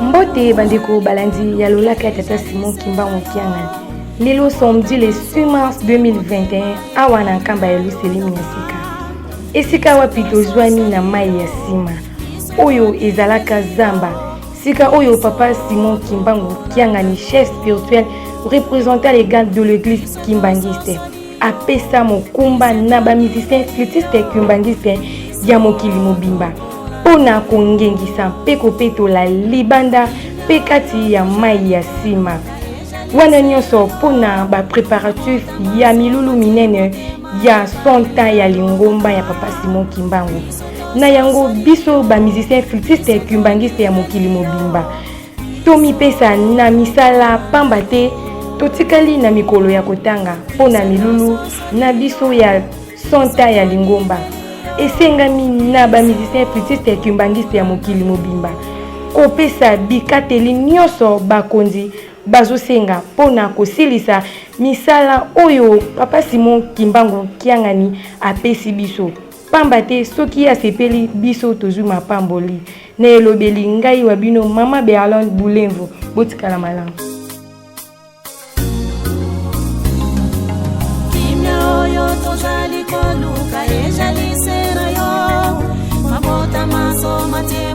mbote bandeko balandi ya lolaka ya tata simon kimbangu kiangani lelo samedi le 6 mars 2021 awa na nkamba ya luselemi ya sika esika wapi tozwami na mai ya nsima oyo ezalaka zamba Sika oyo papa Simon Kimbangu Kiangani chef spirituel représentant légal de l'église kimbanguiste apesa mokumba na ba musiciens flûtistes kimbanguistes ya mokili mobimba mpo na kongengisa mpe kopetola libanda mpe kati ya mai ya nsima wana nyonso mpo na bapréparatif ya milulu minene ya 100 ans ya lingomba ya papa simon kimbangu na yango biso bamusicien flutiste kimbangiste ya mokili mobimba tomipesa na misala pamba te totikali na mikolo ya kotanga mpo na milulu na biso ya 100 ans ya lingomba esengami na bamusicien flutiste kimbangiste ya mokili mobimba kopesa bikateli nyonso bakonzi bazosenga mpo na kosilisa misala oyo papa simon kimbangu kiangani apesi biso pamba te soki asepeli biso tozwi mapamboli na elobeli ngai wa bino mama berlande bulenvo botikala malamu kimia oyo tozali koluka ezali se na yo mabota maso matie